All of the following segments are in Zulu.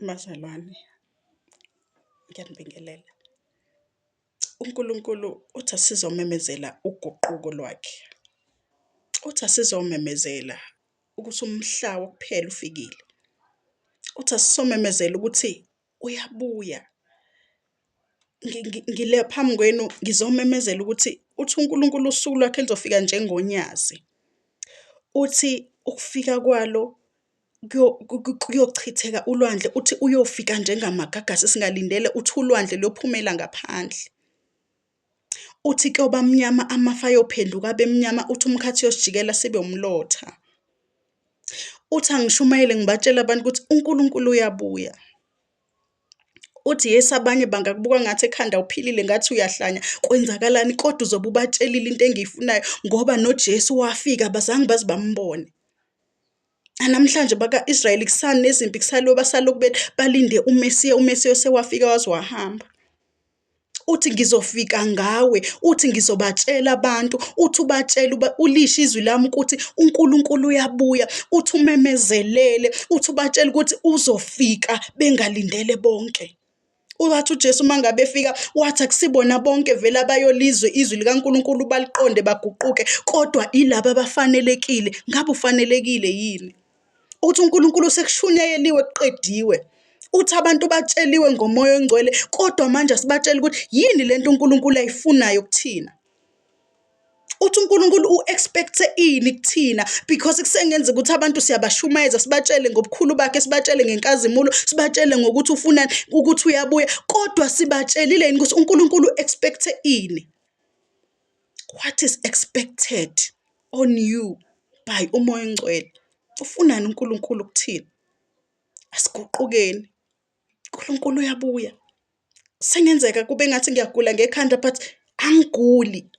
Bazalwane, ngiyanibingelela. UNkulunkulu uthi asizomemezela uguquko lwakhe. Uthi asizomemezela ukuthi umhla wokuphela ufikile. Uthi asizomemezela ukuthi uyabuya. Ngile phambi kwenu ngizomemezela ukuthi uthi uNkulunkulu usuku lwakhe luzofika njengonyazi. Uthi ukufika kwalo kuyochitheka ulwandle, uthi uyofika njengamagagasi singalindele, uthi ulwandle luyophumela ngaphandle. Uthi kuyoba mnyama amafa ayophenduka abe mnyama uthi umkhathi uyosijikela sibe umlotha uthi angishumayele ngibatshela abantu ukuthi uNkulunkulu uyabuya uthi yesi abanye bangakubuka ngathi ekhanda uphilile ngathi uyahlanya kwenzakalani kodwa uzobe ubatshelile into engiyifunayo ngoba noJesu wafika abazange baze bambone namhlanje baka-israyeli kusanezimpi kusaloba salokhu bethi balinde umesiya umesiya osewafika waze wahamba uthi ngizofika ngawe uthi ngizobatshela abantu uthi ubatshela uba ulishe izwi lami ukuthi uNkulunkulu uyabuya uthi umemezelele uthi ubatshela ukuthi uzofika bengalindele bonke wathi uJesu uma ngabe efika wathi akusibona bonke vele abayolizwe izwi likaNkulunkulu baliqonde baguquke kodwa ilaba abafanelekile ngabe ufanelekile yini ukuthi uNkulunkulu sekushunyayeliwe kuqediwe uthi abantu batsheliwe ngomoya ongcwele kodwa manje asibatshela ukuthi yini lento uNkulunkulu ayifunayo kuthina uthi uNkulunkulu u-expect ini kuthina because kusengenza ukuthi abantu siyabashumayeza sibatshele ngobukhulu bakhe sibatshele ngenkazimulo sibatshele ngokuthi ufunani ukuthi uyabuya kodwa sibatshelile yini ukuthi uNkulunkulu u-expect ini What is expected on you by uMoya oNgcwele? Ufunani uNkulunkulu kuthina? Asiguqukeni. uNkulunkulu uyabuya. Sengenzeka kube ngathi ngiyagula ngekhanda but angiguli.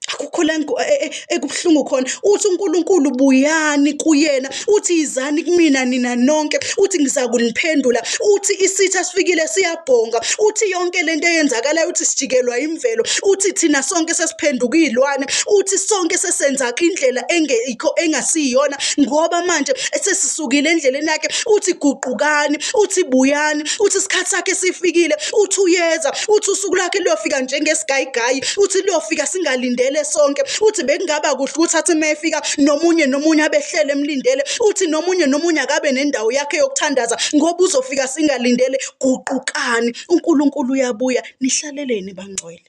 Akukho la e, e, ekubuhlungu khona. Uthi uNkulunkulu buyani kuyena uthi yizani kumina nina nonke uthi ngizakuniphendula uthi isitha sifikile siyabhonga uthi yonke lento eyenzakalayo uthi sijikelwa imvelo uthi thina sonke sesiphenduka iy'lwane uthi sonke sesenzaka indlela engekho engasiyona ngoba manje sesisukile endleleni yakhe uthi guqukani uthi buyani uthi isikhathi sakhe sifikile uthi uyeza uthi usuku lakhe luyofika njengesigayigayi uthi luyofika singalindele sonke uthi bekungaba kuhle ukuthi athi uma efika nomunye nomunye abehlele emlindele uthi nomunye nomunye akabe nendawo yakhe yokuthandaza ngoba uzofika singalindele guqukani uNkulunkulu uyabuya nihlaleleni bangcwele